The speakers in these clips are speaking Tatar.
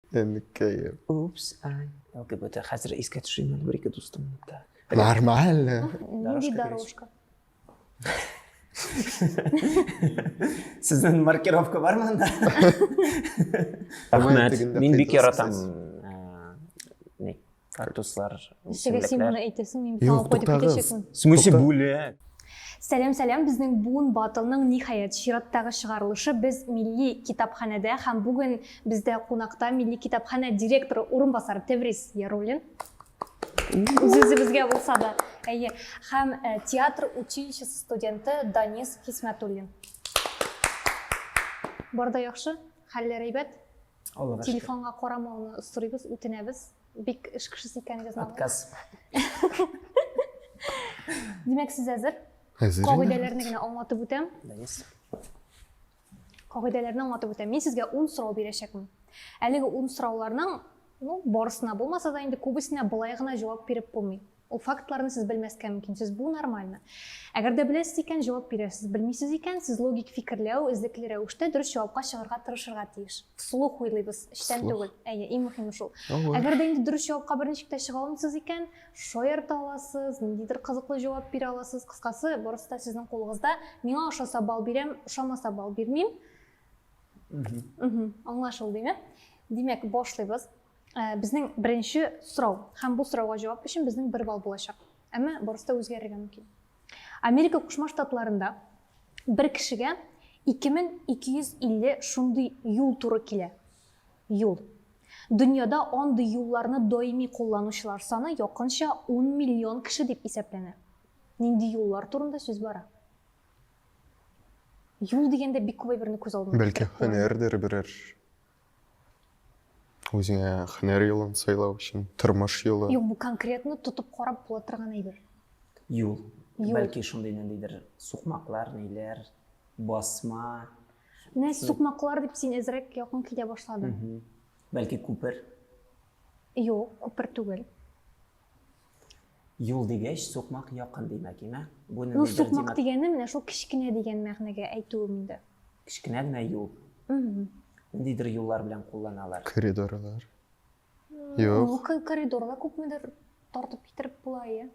Әнкәем. Упс, ай. ЛГБТ хәзер искә төшерим әле бер-ике дустымны. Так. Нормально. Нинди дорожка? Сезнең маркировка бар монда? Рәхмәт. Мин бик яратам кактуслар ничәгә син моны әйтәсең мин бит аңа кайтып китәчәкмен в смысле бүләк Сәлем сәлем безнең буын батылның ниһаять чираттагы чыгарылышы без милли китапханәдә һәм бүген бездә кунакта милли китапханә директоры урынбасары Теврис Яруллин. Үзебезгә булса да. Әйе. Һәм э, театр училищесы студенты Данис Хисмәтуллин. Барда яхшы, хәлләр әйбәт. Аллага шөкер. Телефонга карамауны сорыйбыз, үтенәбез. Бик эш кешесе икәнегезне Отказ. Димәк, сез әзер? Әзер. Кагыйдәләрне генә аңлатып үтәм. Кагыйдәләрне аңлатып үтәм. Мин сезгә 10 сорау бирәчәкмен. Әлеге 10 сорауларның, ну, барысына булмаса да инде күбесенә былай гына җавап биреп булмый. Ул фактларны сез белмәскә мөмкин, сез бу нормально. Әгәр дә беләсез икән, җавап бирерсез. Белмисез икән, сез логик фикерләү, эзлекле рәвештә дөрес җавапка чыгарга тырышырга тиеш. Вслух уйлыйбыз, эчтән түгел. Әйе, иң мөһиме шул. Әгәр дә инде дөрес җавапка берничек тә чыга алмыйсыз икән, шаярта аласыз, ниндидер кызыклы җавап бирә аласыз. Кыскасы, барысы да сезнең кулыгызда. Миңа ошаса балл бирәм, ошамаса балл бирмим. Аңлашылдымы? Димәк, башлыйбыз. Ә, безнең беренче сорау һәм бу сорауга җавап өчен безнең бер балл булачак. Әмма барысы да үзгәрергә мөмкин. Америка Кушма Штатларында бер кешегә 2250 шундый юл туры килә. Юл. Дөньяда андый юлларны даими кулланучылар саны якынча 10 миллион кеше дип исәпләнә. Нинди юллар турында сүз бара? Юл дигәндә бик күп әйберне күз алдына Бәлки һөнәрдер берәр Үзеңә хөнәр юлын сайлау өчен, тормыш юлы. Юк, бу конкретно тотып карап була торган әйбер. Юл. Юл. Бәлки шундый ниндидер сукмаклар, ниләр, басма. Менә сукмаклар дип син әзрәк якын китә башладың. Бәлки күпер. Юк, күпер түгел. Юл дигәч, сукмак якын димәк, име? Бу Ну, сукмак дигәне менә шул кечкенә дигән мәгънәгә әйтүем инде. Кечкенә генә юл. Ниндидер юллар белән кулланалар. Коридорлар. Юк. Ну, коридорга күпмедер тартып китереп була, иә.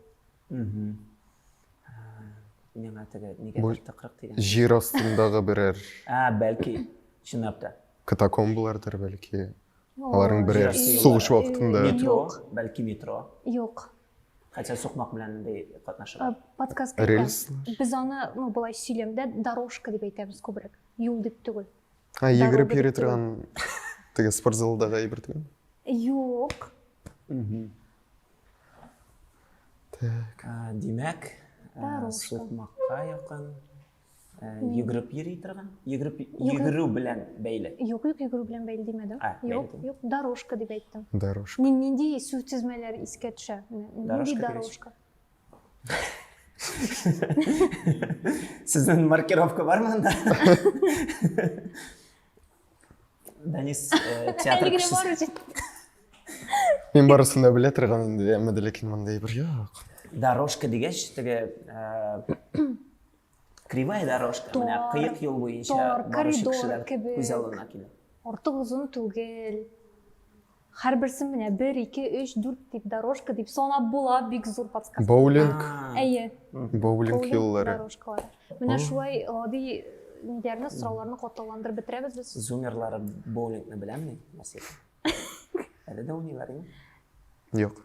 Миңа теге нигә тыкрык дигән. Җир астындагы берәр. Ә, бәлки, чынлап та. Катакомбалардыр бәлки. Аларның берәр сугыш вакытында метро, бәлки метро. Юк. Хәтта сукмак белән дә катнашырга. Подсказка. Рельс. Без аны, ну, былай сөйләмдә дорожка дип әйтәбез күбрәк. Юл дип түгел. А, йөгереп йөри торган теге спортзалдагы әйбер түгел. Юк. Так. Димәк, сукмакка якын. йөгереп йөри торган йөгереп йөгерү белән бәйле юк юк йөгерү белән бәйле димәдем юк юк дорожка дип әйттем дорожка нинди сүз тезмәләр искә төшә нинди дорожка сіздің маркировка бар ма анда Данис э, театр кешесе. Мин барысын да белә торган инде, әмма дә ләкин мондай бер юк. Дорожка дигәч, теге э, кривая дорожка, менә кыек юл буенча баручы кешеләр күз алдына килә. Артык озын түгел. Һәрберсен менә бер, ике, өч, дүрт дип дорожка дип санап була, бик зур подсказка. Боулинг. Әйе. Боулинг юллары. Дорожкалар. Менә шулай гади ниләрне, сорауларны катлауландырып бетерәбез без. Зумерлары боулингны беләмени, мәсәлән? Әле дә уйныйлар инде. Юк.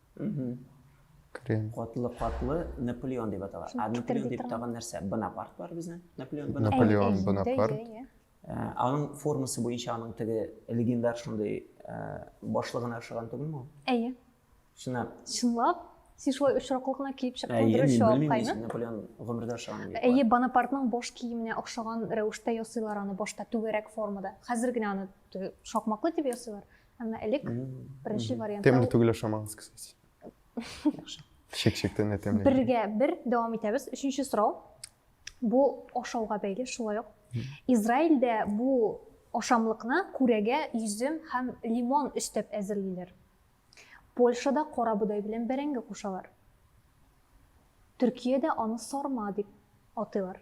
Крем. Катлы катлы Наполеон дип атала. А Наполеон дип тагын нәрсә? Бонапарт бар безнең. Наполеон Бонапарт. Наполеон Бонапарт. Ә, аның формасы буенча аның теге легендар шундый ә, башлыгына ошаган түгелме ул? Әйе. Чынлап. Чынлап? Син шулай очраклы гына киеп чыктың, дөрес җавап кайны? Наполеон гомердә ошаган. Әйе, Бонапартның баш киеменә охшаган рәвештә ясыйлар аны башта түгәрәк формада. Хәзер генә аны шакмаклы дип ясыйлар. Әмма элек беренче вариант. Тәмле түгел ашамагыз, кстати. Яхшы. Шек-шектән дә тәмле. Бергә бер дәвам итәбез. Өченче сорау. Бу ашауга бәйле шулай ук. Израильдә бу ашамлыкны күрәгә йөзем һәм лимон өстәп әзерлиләр. Польшада кара бодай белән бәрәңге кушалар. Төркиядә аны сарма дип атыйлар.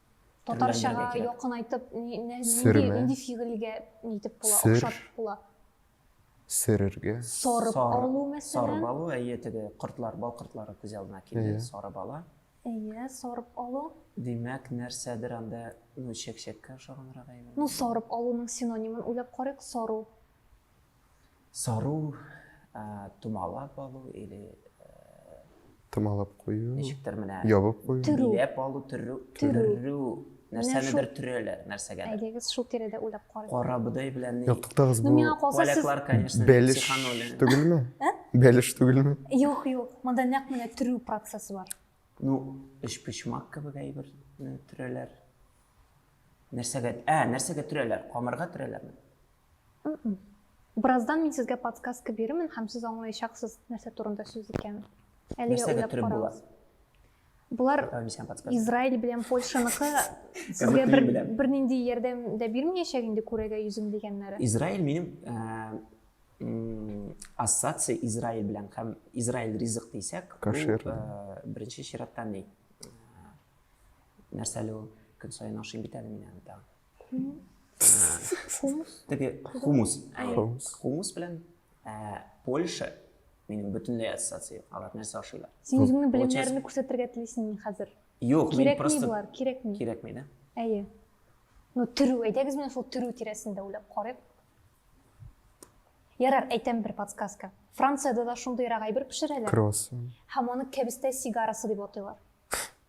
Татарчага якын айтып, нинди фигыльгә нитеп була, охшатып була? Сөрергә. Сорып алу мәсәлән. Сорып алу, әйе, теге кортлар, бал кортлары күз алдына килде, сорып ала. Әйе, сорып алу. Димәк, нәрсәдер анда, ну, чәк-чәккә охшаганрак әйбер. Ну, сорып алуның синонимын уйлап карыйк, сору. Сару, томалап алу или томалап кую ничектер менә ябып кую биләп алу төрү төрү нәрсәнедер төрәләр нәрсәгә әйдәгез шул тирәдә уйлап карыйк карабодай белән юк туктагыз бу поляклар конечно бәлеш түгелме ә? бәлеш түгелме юк юк монда нәкъ менә төрү процессы бар ну өчпочмак кебек әйбер төрәләр нәрсәгә ә нәрсәгә төрәләр камырга төрәләрме Бераздан мин сезгә подсказка бирермен һәм сез аңлаячаксыз, нәрсә турында сүз икәнен. Әлегә Нәрсәгә уйлап төреп була? карагыз. Булар Ә, мин сиңа подсказка. Израиль белән Польшаныкы сезгә бер, беләм. бернинди ярдәм дә бирмәячәк инде күрәгә йөзем дигәннәре. Израиль минем ә, м, ассоциация Израиль белән һәм Израиль ризык дисәк, Кашир. ул, ә, беренче чиратта ни? Ә, Нәрсә әле ул? Көн саен ашыйм бит әле мин аны тагын. хумус теге хумус хумус белән польша минем бөтенләй ассоциация алар нәрсә ашыйлар син үзеңнең белемнәреңне күрсәтергә телисеңме хәзер юк мин просто болар кирәкми кирәкми да әйе ну төрү әйдәгез менә шул төрү тирәсендә уйлап карыйк ярар әйтәм бер подсказка францияда да шундыйрак әйбер пешерәләр кросс һәм аны кәбестә сигарасы дип атыйлар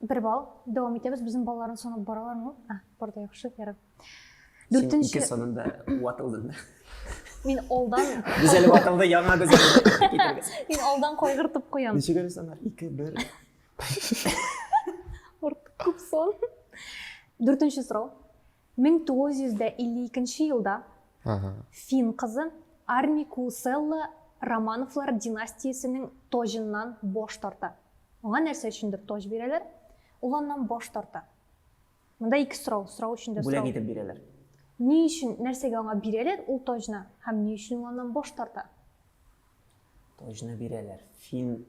бер балл дәвам итәбез безнең балаларны санап баралармы а бар да яхшы ярар дүртенче ике санында ватылдың да мин алдан без әле ватылды яңа без мин алдан кайгыртып куям ничек әле санар ике бер күп сон дүртенче сорау 1952 нче елда фин кызы Арникуусэлла Романовлар династиясенең тоҗыннан баш тарта. Аңа нәрсә өчендер тоҗ бирәләр, ул аннан баш тарта. Монда ике сорау, сорау өчен дә сорау. Бүләк итеп бирәләр. Ни өчен, нәрсәгә аңа бирәләр ул тоҗны һәм ни өчен ул аннан баш тарта? Таҗны бирәләр. Фин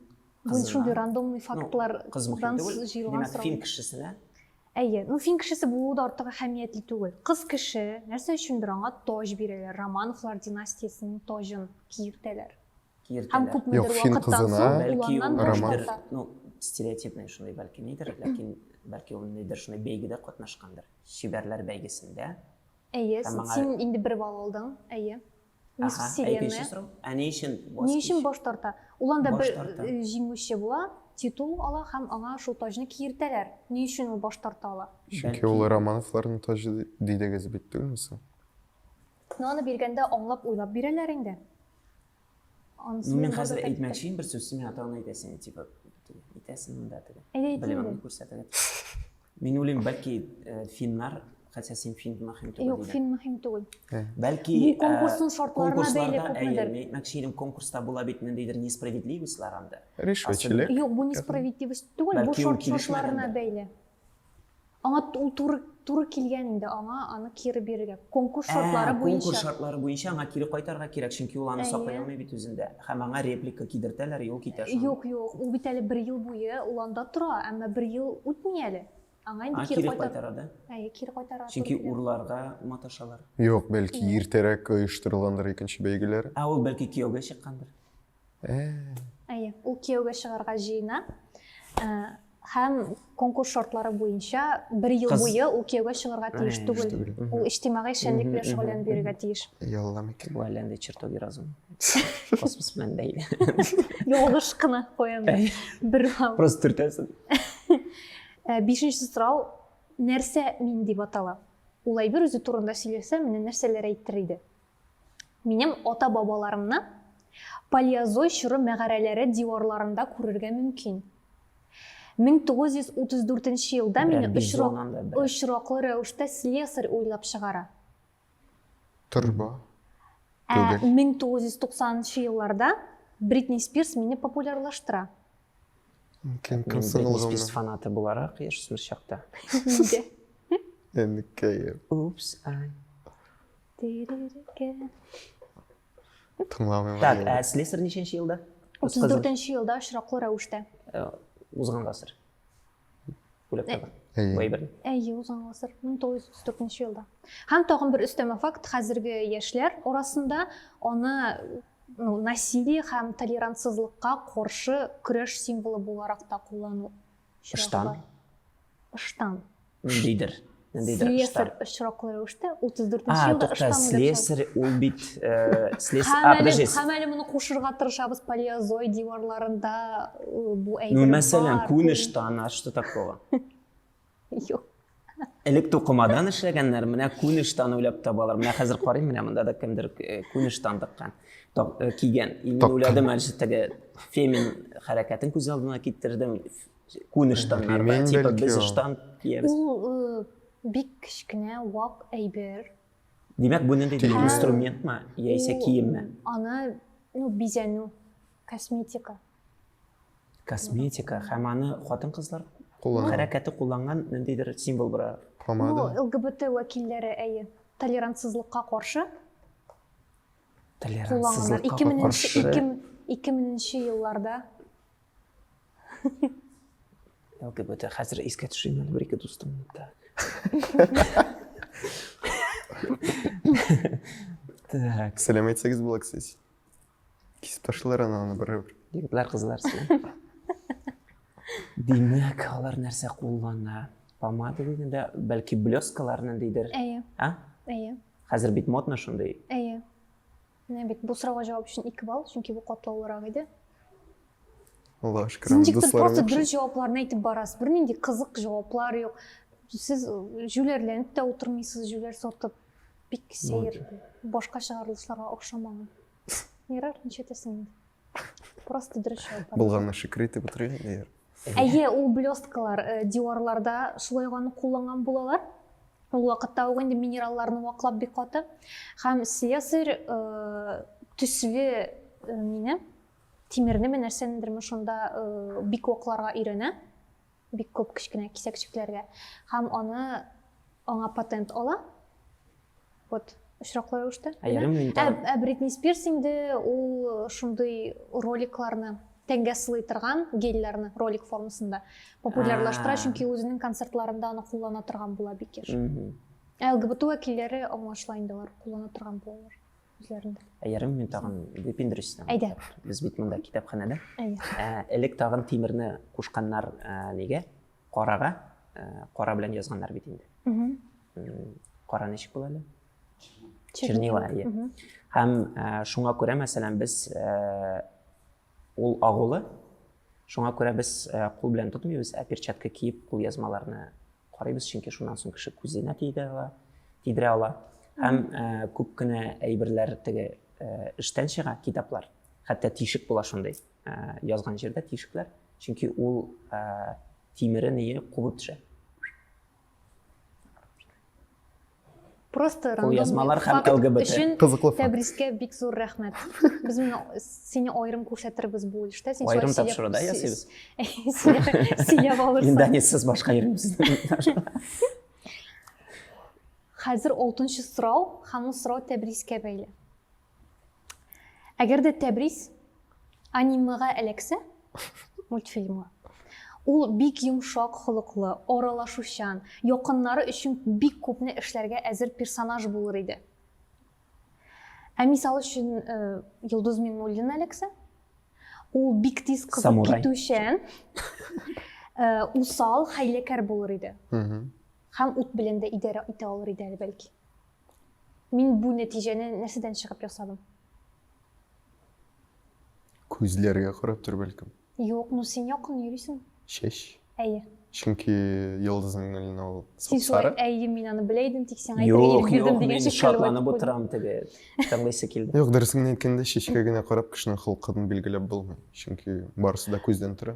Бу шундый рандомный фактлар ну, кыз мөһим түгел. Димәк, фин кешесенә Әйе, ну фин кешесе булуы да артык әһәмиятле түгел. Кыз кеше нәрсә өчендер аңа тож бирәләр, Романовлар династиясенең тожын киертәләр. Киертәләр. Һәм күпмедер вакыттан соң бәлки роман ну стереотипный шундый бәлки нидер, ләкин бәлки ул нидер шундый бәйгедә катнашкандыр. Шибәрләр бәйгесендә. Әйе, син инде бер балл алдың. Әйе. Ни Аха, сүз әй, икенче сорау. Ә ни өчен баш Ни өчен кич? баш тарта? Ул анда Баш бер тарта. э, җиңүче була, титул ала һәм аңа шул таҗны киертәләр. Ни өчен ул баш тарта ала? Чөнки Бәлки- ул Романовларның таҗы ди- дидегез бит, түгелме соң? Ну, аны биргәндә аңлап уйлап бирәләр инде. Анысы Ну, мин барда хәзер да әйтте. әйтмәкче бер сүз, син миңа тагын әйтәсең, типа, итәсең монда теге. Әйдә әйтмим Белмәм, дә. күрсәтәләр. Мин уйлыйм, бәлки э, финнар, хәтта син фин мөһим түгел. Юк, фин мөһим түгел. Бәлки Бу э, конкурсның шартларына бәйле күпмедер. Әйе, мәкче идем, конкурста була бит ниндидер несправедливостьлар анда. Ришвәтчелек. Юк, бу несправедливость түгел, бу шартларына бәйле. Аңа ул туры туры килгән инде аңа аны кире бирергә. Конкурс шартлары буенча. Конкурс шартлары буенча аңа кире кайтарга кирәк, чөнки ул аны саклый алмый бит үзендә. Һәм аңа реплика кидертәләр, и ул китә соң. Юк, юк, ул бит әле бер ел буе ул анда тора, әмма бер ел үтми әле. Аңа инде кире кайтара. кайтара да? Әйе, кире кайтара. Чөнки урларга маташалар. Юк, бәлки иртәрәк оештырылгандыр икенче бәйгеләр. Ә ул бәлки кияүгә чыккандыр. Әйе, ул кияүгә чыгарга җыена. Э, Һәм конкурс шартлары буенча бер ел буе ул кияүгә чыгарга тиеш түгел. Ул иҗтимагый эшчәнлек белән шөгыльләнеп йөрергә тиеш. Ялла микән. Бу әллә нинди чертоги разум. Космос белән бәйле. Ялгыш кына куям. Бер хал. Просто төртәсен. Э, бишенче сорау, нәрсә мин дип атала? Ул әйбер үзе турында сөйләсә, менә нәрсәләр әйтер иде? Минем ата-бабаларымны Палеозой чоры мәгарәләре диварларында күрергә мөмкин. 1934 елда мине очраклы рәвештә слесарь уйлап чыгара. Торба. 1990 елларда Бритни Спирс мине популярлаштыра. Кем кем Бритни Спирс фанаты буларак яшьсез чакта. Инде. Энекәем. Упс, ай. Тыңламыйм. Так, ә слесарь ничәнче елда? 34-нче елда очраклы рәвештә. Узган гасыр. Бүләк тагын. Әйе. Әйе, узган гасыр. 1934 елда. Һәм тагын бер өстәмә факт, хәзерге яшьләр арасында аны ну, насилие һәм толерантсызлыкка каршы көрәш символы буларак та куллану очраклы ыштан ниндидер ниндидер слесарь очраклы рәвештә 34 нче елда ыштан слесарь ул бит подожди һәм әле моны кушырга тырышабыз палеозой диварларында бу әйбер мәсәлән күн ыштан а что такого юк элек тукымадан эшләгәннәр менә күн ыштан уйлап табалар менә хәзер карыйм менә монда да кемдер э, күн ыштан тыккан э, кигән и мин уйладым әле теге фемин хәрәкәтен күз алдына китердем күн ыштаннарда типа без ыштан киябез ул э, бик кечкенә вак әйбер димәк бу ниндидер инструментмы яисә киемме аны ну бизәнү косметика косметика һәм аны хатын-кызлар Куллана. хәрәкәте кулланган ниндидер символ бара. Ну, Помада. ЛГБТ вәкилләре, әйе, толерантсызлыкка каршы кулланганнар. Толерантсызлыкка 2000 каршы. 2000 2000 елларда. ЛГБТ хәзер искә төшерим әле бер-ике дустымны. Так. Так. Сәләмәйтсәгез була, кстати. Кисеп ташлыйлар аны аны бер. Егетләр кызлар син. Димәк, алар нәрсә куллана? Помада дигәндә, бәлки блескаларны дидер. Әйе. А? Әйе. Хәзер бит модно шундый. Әйе. Менә бит бу сорауга җавап өчен 2 балл, чөнки бу катлаулырак иде. Алла шөкер. Син ничектер просто дөрес җавапларны әйтеп барасыз. Бернинди кызык җаваплар юк. Сез э, җүләрләнеп тә утырмыйсыз, җүләр сатып. Бик сәер, башка чыгарылышларга охшамаган. Ярар, ничәтәсең инде. Просто дөрес җавап. Булганны шөкер итеп утырыйк инде. Әйе, ул блесткалар э, диварларда шулай ганы кулланган булалар. Ул вакытта ук инде минералларны ваклап бик каты. Һәм слесарь э, төсле э, мине тимернеме нәрсәнедерме шунда бик вакларга өйрәнә. бик күп кечкенә кисәкчекләргә һәм аны аңа патент ала вот очраклы рәвештә ә бритни спирс инде ул шундый роликларны тәнгә сылый торган гельләрне ролик формасында популярлаштыра чөнки үзенең концертларында аны куллана торган була бик еш ә лгбт вәкилләре аңлашыла инде алар куллана торган булалар үзләрендә әйәрем мин тагын выпендрюсь әйдә без бит монда китапханәдә ә, элек тагын тимерне кушканнар ә, нигә карага ә, кара белән язганнар бит инде кара ничек була әле чернила әйе һәм ә, шуңа күрә мәсәлән без ә, ул агулы шуңа күрә без ә, кул белән тотмыйбыз ә перчатка киеп кулъязмаларны карыйбыз чөнки шуннан соң кеше күзенә тидерә ала тидерә ала һәм ә, күп кенә әйберләр теге ә, эштән чыга китаплар хәтта тишек була шундый ә, язган җирдә тишекләр чөнки ул ә, тимере нее кубып төшә просто кулъязмалар һәм лгбт өчен кызыклы тәбрискә бик зур рәхмәт без моны сине аерым күрсәтербез бу өлештә син аерым тапшыруда ясыйбыз сөйләп алырсың индонезсыз башка йөрмибез хәзер алтынчы сорау һәм ул сорау тәбрискә бәйле Әгәр дә Тәбрис анимега эләксә, мультфильмга, ул бик йомшак холыклы, аралашучан, якыннары өчен бик күпне эшләргә әзер персонаж булыр иде. Ә мисал өчен э, Йолдыз Миннуллина эләксә, ул бик тиз кызып Самурай. китүчән, э, усал, хәйләкәр булыр иде. Мгм. Һәм ут белән дә идарә итә алыр иде әле бәлки. Мин бу нәтиҗәне нәрсәдән чыгып ясадым? Күзләргә карап тор бәлкем. Юк, ну син якын йөрисең. Чәч. Әйе. Чөнки йолдызның гөлен ул Син шулай, әйе, мин аны белә идем, тик сиңа әйтергә ирек бирдем дигән шикелле. Юк, шатланып утырам теге. Тыңлыйсы килде. Юк, дөресен генә әйткәндә, чәчкә генә карап кешенең холкын билгеләп булмый. Чөнки барысы да күздән тора.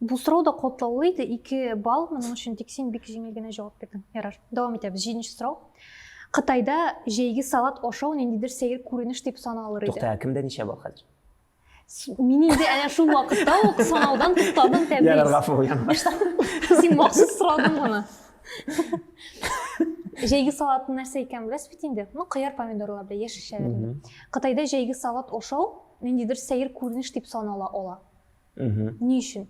Бу сорау да катлаулы иде, ике балл, моның өчен тик син бик җиңел генә җавап бирдең. Ярар, дәвам итәбез. Җиденче сорау. Кытайда җәйге салат ашау ниндидер сәер күренеш дип саналыр иде. Тукта, кемдә ничә балл хәзер? Мин инде әнә шул вакытта ук санаудан туктадым, Тәбриз. Ярар, гафу булган. Син махсус сорадың моны. Җәйге салат нәрсә икән беләсез бит инде. Ну, кыяр, помидорлар белән яшелчәләр. Кытайда җәйге салат ашау ниндидер сәер күренеш дип санала ала. Ни өчен?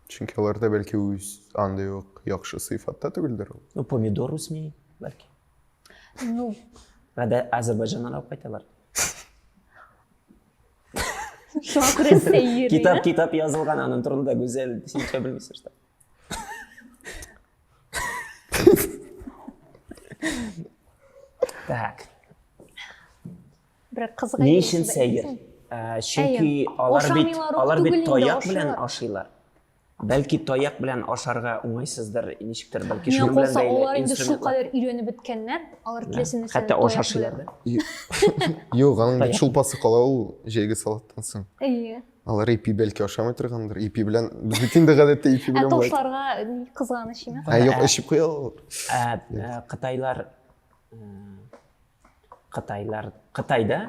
Чөнки аларда бәлки үз андый ук яхшы сыйфатта түгелдер ул. Ну, помидор үсми, бәлки. Ну. Әдә Азербайҗаннан алып кайталар. Шуңа күрә сәер. Китап, китап язылган аның турында гүзәл, син ничә белмисең что. Так. Бер кызга Ни өчен сәер? Ә, чөнки алар бит алар бит таяк белән ашыйлар. Бәлки таяк белән ашарга уңайсыздыр, ничектер, бәлки шул белән бәйле. Алар инде шул кадәр өйрәнеп беткәннәр, алар теләсә нәрсә. Хәтта ашашыйлар да. Юк, аның бит шулпасы кала ул җәйге салаттан соң. Әйе. Алар ипи бәлки ашамый торгандыр. Ипи белән бит инде гадәттә ипи белән. Ә ташларга кызганыч име? Ә юк, эчеп куя алалар. Ә Кытайлар Кытайлар, Кытайда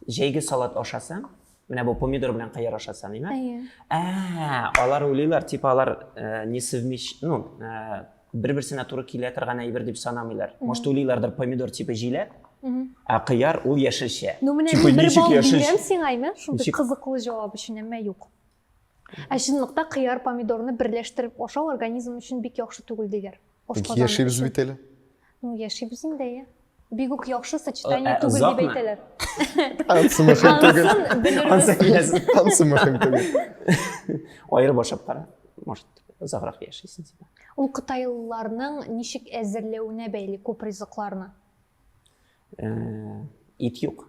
җәйге салат ашасаң, менә бу помидор белән кыяр аша саныймы? Әйе. Ә, алар уйлыйлар, типа алар э, не совмещ, ну, э, бер-берсенә туры килә торган әйбер дип санамыйлар. Может, уйлыйлардыр помидор типа җиләк, ә кыяр ул яшелчә. Ну, менә типа, мин бер балл бирәм сиңа, әйме? Шундый кызыклы җавап өчен, әмма юк. Ә чынлыкта кыяр, помидорны берләштереп ашау организм өчен бик яхшы түгел диләр. Ашказаны Яшибез өчен. бит әле. Ну, яшибез инде, иә. Бик үк яхшы сочетание Ә, түгел дип озакмы? әйтәләр. Ансы мөһим түгел. Анысын белербез. Ансы киләсен. Ансы мөһим түгел. Айырып ашап кара. Может, озаграк яшисен. Ул кытайлыларның ничек әзерләвенә бәйле күп ризыкларны. Э, Ит юк.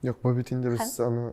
Юк, бу бит инде без аны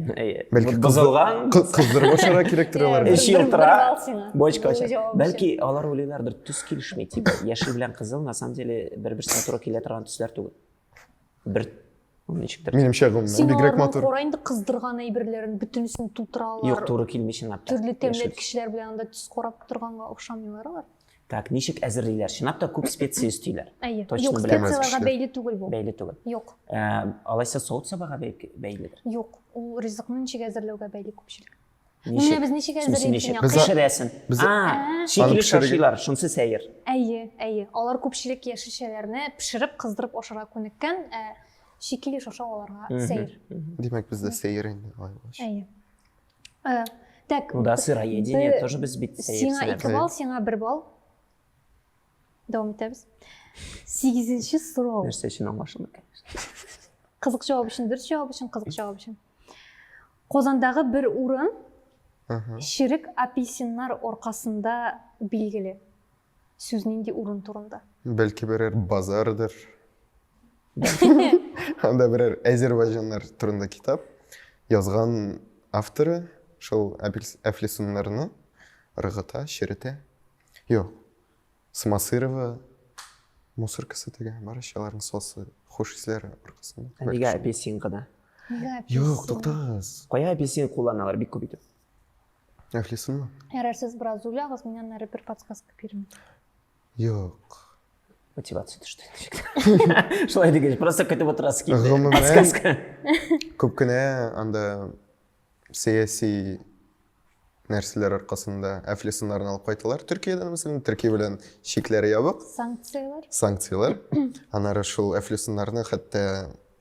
бозылган кыздырып ашарга кирәктер аларга эче елтыра бочка бәлки алар уйлыйлардыр төс килешми типа яшел белән кызыл на самом деле бер берсенә туры килә торган төсләр түгел бер ничектер менимчә гомумән бигрәк матур кара инде кыздырган әйберләрен бөтенесен тутыра алар юк туры килми чынлап та төрле тәмле кешеләр белән анда төс карап торганга охшамыйлар алар Так, ничек әзерлиләр? Чынлап та күп специя өстиләр. Әйе. Юк, специяләргә бәйле түгел бу. Бәйле түгел. Юк. Э, алайса савыт сабага бәйледер. Юк, ул ризыкны ничек әзерләүгә бәйле күпчелек. Ну, менә без ничек әзерлибез инде. Без пешерәсен. Без шикли шашилар, шунсы сәер. Әйе, әйе. Алар күпчелек яшелчәләрне пешереп, кыздырып ашарга күнеккән, ә шикли шаша аларга сәер. Димәк, бездә сәер инде. Әйе. Э, так. Ну да, сыроедение тоже без бит Сиңа ике балл, сиңа бер балл. Дәвам итәбез. Сигезенче сорау. Нәрсә өчен аңлашылмый, конечно. Кызык җавап өчен, дөрес җавап өчен, кызык җавап өчен. Казандагы бер урын Ширек апельсиннар оркасында билгеле. Сүз нинди урын турында? Бәлки берәр базардыр. Анда берәр әзербайҗаннар турында китап язган авторы шул әфлисуннарны ыргыта, черетә. Юк. Смасырова мусоркасы тегә, барышаларның сосы, хуш исләре аркасында. Нигә апельсин гына? Юк, туктагыз. Кая апельсин кулланалар бик күп итеп? Әхлисыңмы? Ярар, сез бераз уйлагыз, мин аннары бер подсказка бирәм. Юк. Мотивация төште. Шулай дигәч, просто көтеп отырасы килде. Гомумән- Подсказка. Күп кенә анда сәяси нәрсәләр аркасында әфлисыннарны алып кайталар. Төркиядән, мәсәлән, Төркия белән чикләре ябык, Санкциялар? санкциялар. Аннары шул әфлисыннарны хәтта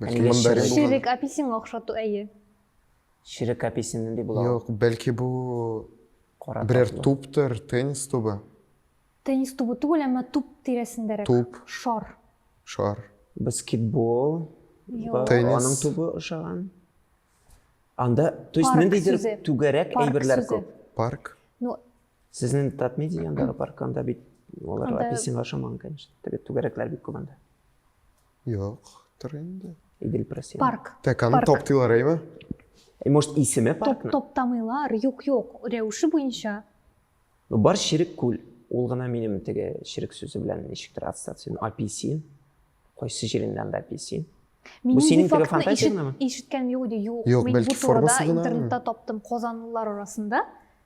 Бәлки мандарин Ширек апельсин охшату әйе. Ширек апельсин нинди була? Юк, бәлки бу берәр туптыр, теннис тубы. Теннис тубы түгел, әмма туп тирәсендәрәк. Туп. Шар. Шар. Баскетбол. Теннис. Аның тубы ошаган. Анда, то есть ниндидер түгәрәк әйберләр күп. Парк. Ну, сезнең татмедиа янындагы парк анда бит олар апельсинга ошамаган, конечно. Теге түгәрәкләр бик күп анда. Юктыр инде. Идел просил. Парк. Так, аны Парк. топтыйлар, әйме? Э, Может, исеме Топ, паркны? топтамыйлар. Юк, юк. Рәвеше буенча. Ну, бар ширек күл. Ул гына минем теге ширек сүзе белән ничектер ассоциин. APC. Кайсы җирендә анда APC? Минем синең бу фактны телефантазия ишет, генәме? ишеткәнем юк иде. Юк, Юк, мин бу бәлки турыда формасы гынамы? интернетта таптым казанлылар арасында.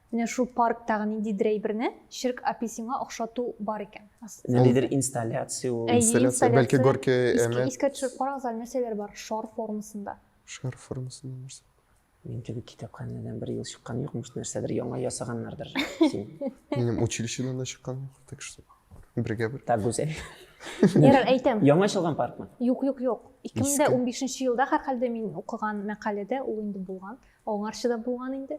Менә шул парктагы ниндидер әйберне Ширк апи сиңа охшату бар икән. Ниндидер инсталляция ул. Инсталляция, бәлки Горький Эмет. Искә төшереп карагыз әле нәрсәләр бар шар формасында. Шар формасында нәрсә? Мин теге китапханәдән бер ел чыккан юк, может нәрсәдер яңа ясаганнардыр син. Минем училищедан да чыккан юк, так что бергә бер. Так гүзәл. Ярар, әйтәм. Яңа ачылган паркмы? Юк, юк, юк. 2015 елда һәрхәлдә мин укыган мәкаләдә ул инде булган. Аңарчы да булган инде.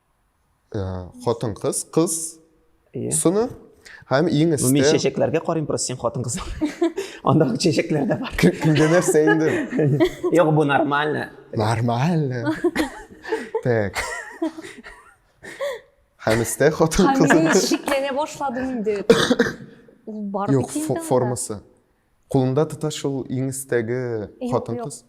Хатын кыз, кыз сыны һәм иң өстә. Мин чәчәкләргә карыйм, просто син хатын кыз. Анда чәчәкләр дә бар. Кемгә нәрсә инде? Юк, бу нормально. Нормально. Так. Һәм өстә хатын кыз. Һәм шикләнә башладым инде. Ул бар бит инде. Юк, формасы. Кулында тота шул иң өстәге хатын-кыз.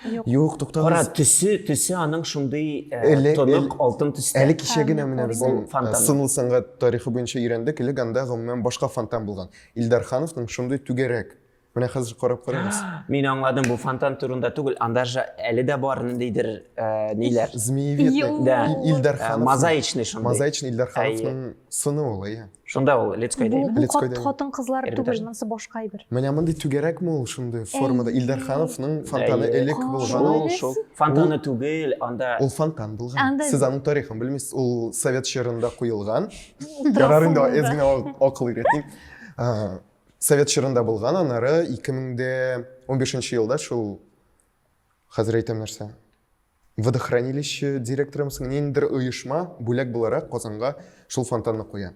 Юк, юк, туктагыз. Кара, төсе, төсе аның шундый э, тонык алтын төстә. Әле кичә генә менә безнең э, сынлы сәнгать тарихы буенча өйрәндек, элек анда гомумән башка фонтан булган. Илдар Хановның шундый түгәрәк. Менә хәзер карап карагыз. Мин аңладым, бу фонтан турында түгел, анда же әле дә бар ниндидер э, ниләр. Змеевидный. Да. Илдар Ханов. Мозаичный шундый. Мозаичный Илдар Хановның сыны ул, иә. Шунда ул Лицкой Бу, бу хат, хатын кызлар түгел, монысы башка әйбер. Менә мондый түгәрәкме ул шундый формада? Илдар Хановның фонтаны элек булган. Ул шул фонтаны түгел, анда Ул фонтан булган. Сез аның тарихын белмисез, ул совет чорында куелган. Ярар инде әз генә акыл өйрәтим. Совет чорында булган, аннары 2015 елда шул Хәзер әйтәм нәрсә. Водохранилище директоры мсың, ниндидер оешма бүләк буларак Казанга шул фонтанны куя.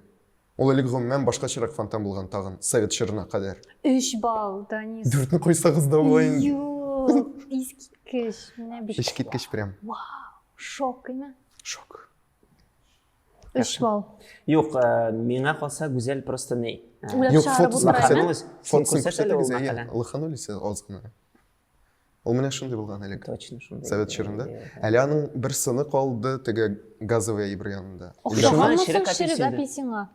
Ул элек гомумән башкачарак фонтан булган тагын, совет чорына кадәр. Өч балл, Данис. Дүртне куйсагыз да була инде. Юк, искиткеч. Менә бит. Искиткеч прям. Вау, шок име? Шок. Өч балл. Юк, э, миңа калса Гүзәл просто не. Э, Юк, фотосын күрсәтегез. Лыханулись азгына. Ул менә шундый булган элек. Точно шундый. Совет чорында. Әле аның бер сыны калды теге газовый әйбер янында. Ошамаган ширек апельсина.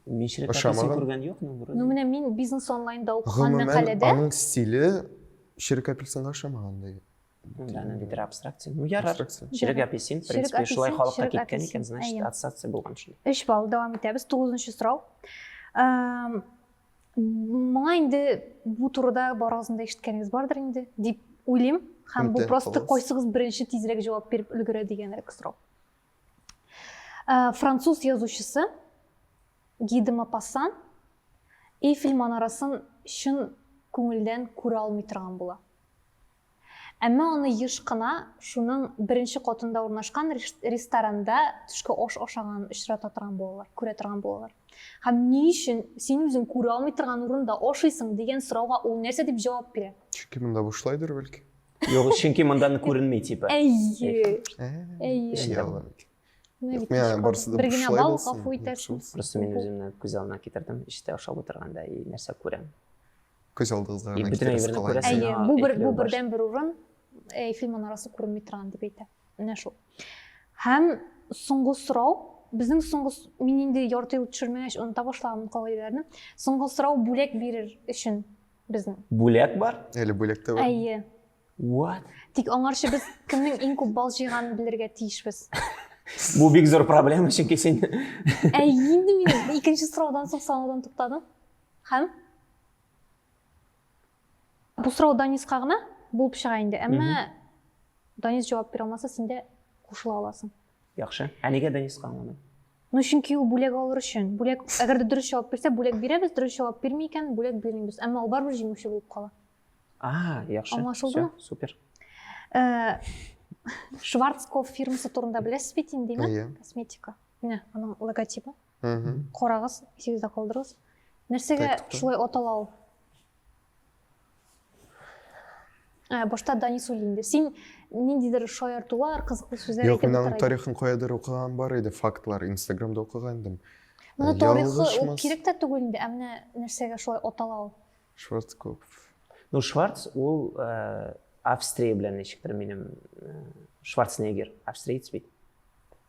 Мин ширек апельсин күргән юкмын вроде. Ну менә мин бизнес онлайнда укыган мәкаләдә. Гомумән аның стиле ширек апельсинга ошамаган ди. Аны бит абстракция. Ну ярар. Ширек апельсин, в принципе, шулай халыкка киткән икән, значит, ассоциация булган шул. 3 балл дәвам итәбез. 9 нчы сорау. моңа инде бу турыда барыгыздың да ишеткәнегез бардыр инде дип уйлыйм һәм бу просто кайсыгыз беренче тизрәк җавап биреп өлгерә дигәнрәк сорау француз язучысы гиде мапассан эйфель манарасын чын күңелдән күрә алмый торган була Әмма аны еш кына шуның беренче катында урнашкан ресторанда төшке аш ашаганын очрата торган булалар, күрә торган булалар. Һәм ни өчен син үзең күрә алмый торган урында ашыйсың дигән сорауга ул нәрсә дип җавап бирә? Чөнки монда бушлайдыр бәлки. Юк, чөнки монда күренми типа. Әйе. Әйе. Миңа барысы да бушлай булсын. Просто мин үземне күз алдына китердем, эштә ашап утырганда и нәрсә күрәм. Күз алдыгызга гына китерегез кала инде. Әйе, бу бер бу бердән бер урын Эйфел манарасы күренми торган дип әйтә. Менә шул. Һәм соңгы сорау, безнең соңгы мин инде ярты ел төшермәгәч оныта башлаган кагыйдәләрне. Соңгы сорау бүләк бирер өчен безнең. Бүләк бар? Әле бүләк тә бар. Әйе. What? Тик аңарчы без кемнең иң күп бал җыйганын белергә тиешбез. Бу бик зур проблема, чөнки син Әй, инде мин икенче сораудан соң санаудан туктадым. Һәм бу сорау Даниска гына булып чыга инде, әмма Данис җавап бирә алмаса, син дә кушыла аласың. Яхшы. Ә нигә Даниска аңламый? Ну, чөнки ул бүләк алыр өчен. Бүләк, әгәр дә дөрес җавап бирсә, бүләк бирәбез, дөрес җавап бирми икән, бүләк бирмибез. Әмма ул барыбер җиңүче булып кала. А, яхшы. Аңлашылдымы? Всё, супер. Э, Шварцкопф фирмасы турында беләсез бит инде, Әйе. косметика. Менә аның логотипы. Карагыз, исегездә калдырыгыз. Нәрсәгә шулай атала ул? Ә, башта Данис үлде. Син ниндидер шаяртулар, кызыклы сүзләр әйтеп Юк, мин тарихын каядыр укыган бар иде, фактлар Инстаграмда укыган идем. Менә тарихы ул кирәк тә түгел инде, ә менә нәрсәгә шулай атала ул? Шварцкоп. Ну, Шварц ул Австрия белән ничектер минем Шварценеггер, австриец бит.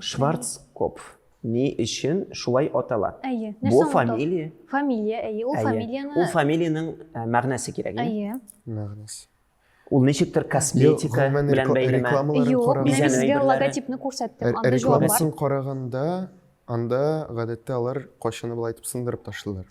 Шварцкопф ни өчен шулай атала? Әйе. Бу фамилия. Фамилия, әйе. Ул фамилияны... Ул фамилиянең э, мәгънәсе кирәк. Әйе. Мәгънәсе. Ул ничектер косметика белән бәйлеме? Юк, мин сезгә логотипны күрсәттем. Ә рекламасын караганда, анда гадәттә алар кайчаны былай итеп сындырып ташлыйлар.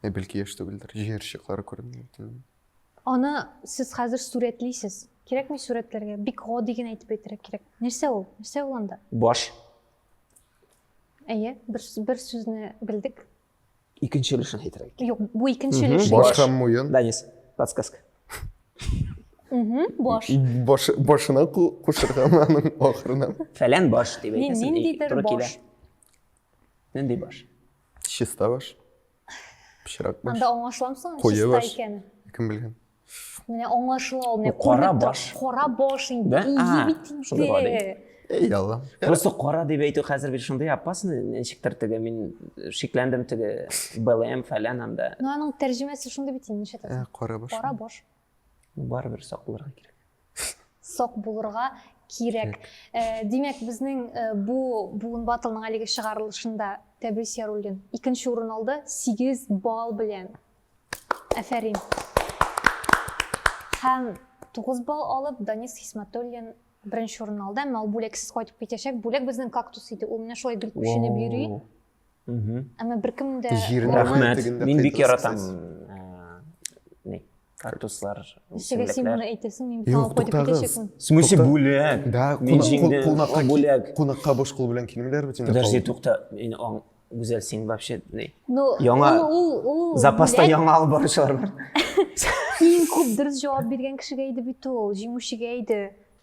Ә бәлки яшь түгелдер, җыер чыклары күренми икән. Аны сез хәзер сурәтлисез. Кирәкми сурәтләргә. Бик гади генә әйтеп әйтергә кирәк. Нәрсә ул? Нәрсә ул анда? Баш. Әйе, бер, бер сүзне белдек. Икенче өлешен әйтергә кирәк. Юк, бу икенче өлеш. Баш һәм муен. Данис, подсказка. Баш. Баш башына кушырга аның ахырына. Фәлән баш дип әйтәсең. Ниндидер баш. Нинди баш? чиста баш пычрак баш анда аңлашыламсың чиста икәнен кем белгән менә аңлашыла ул менә кара баш кара баш инде ие бит инде эй алла просто кара дип әйтү хәзер бит шундый опасный ничектер теге мин шикләндем теге блм фәлән анда ну аның тәрҗемәсе шундый бит инде ничә кара баш кара баш барыбер сак булырга кирәк сак булырга кирәк э, димәк безнең э, бу буын батылның әлеге чыгарылышында тәбрис яруллин икенче урын алды сигез балл белән әфәрин һәм тугыз балл алып данис хисматуллин беренче урын алды әмма ул бүләксез кайтып китәчәк бүләк безнең кактус иде ул менә шулай дөмпүшенеп йөри әмма беркем дә рәхмәт мин бик яратам кактуслар ничек син моны әйтәсең мин юк туктагыз в смысле бүләк да кунакка бүләк кунакка бош кул белән килмиләр бит инде подожди тукта мин гүзәл син вообще ну яңа ул запаста яңа алып баручылар бар иң күп дөрес җавап биргән кешегә иде бит ул җиңүчегә иде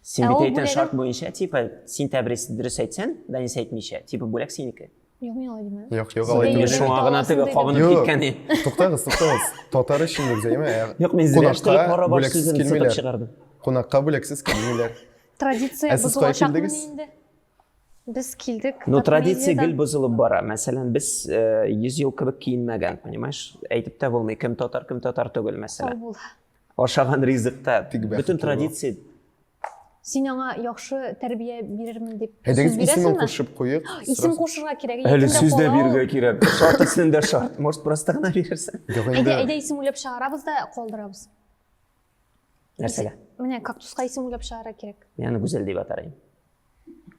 Син бит әйтән шарт буенча, типа, син тәбрис дөрес әйтсән, Данис әйтмичә, типа, бүләк синеке. Юк, мин алай димәм. Юк, юк, алай димәм. Шуңа гына теге кабынып киткән ин. Туктагыз, туктагыз. Татар өчен дә зәйме? Юк, мин зрәштәлек бара бар сүзен сытып чыгардым. Кунакка бүләксез килмиләр. Традиция бозылачакмы инде? Без килдек. Ну, традиция гел бозылып бара. Мәсәлән, без 100 ел кебек киенмәгән, понимаешь? Әйтеп тә булмый, кем татар, кем татар түгел, мәсәлән. Сау бул. Ашаган ризыкта Бик бәхетле бөтен бул. традиция Син аңа яхшы тәрбия бирермен дип сүз Әйдәгез исемен бирәсеңме? кушып куйыйк. Исем кушырга кирәк. әле исемдә сүз дә кала ул. бирергә кирәк. Шарт исем дә шарт. Может, просто гына бирерсең? Юк, Әйдә, инде әйдә исем уйлап чыгарабыз да калдырабыз. Нәрсәгә? Менә кактуска исем уйлап чыгарга кирәк. Мин аны Гүзәл дип атарым.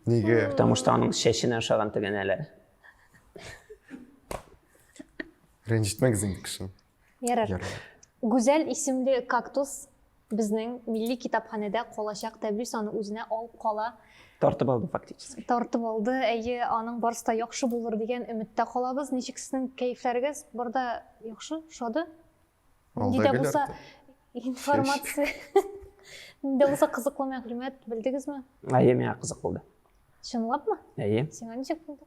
Нигә? Потому что аның чәченә ошаган тегәнәләр. Рәнҗетмәгез инде кешене. Ярар. Гүзәл исемле кактус безнең милли китапханәдә калачак тәблис аны үзенә алып кала. Тартып алды фактически. Тартып алды. Әйе, аның барысы да яхшы булыр дигән өметтә калабыз. Ничек сезнең кәефләрегез? Барда яхшы, шады? Нинди дә булса информация. Нинди булса кызыклы мәгълүмат белдегезме? Әйе, миңа кызык булды. Чынлапмы? Әйе. Сиңа ничек булды?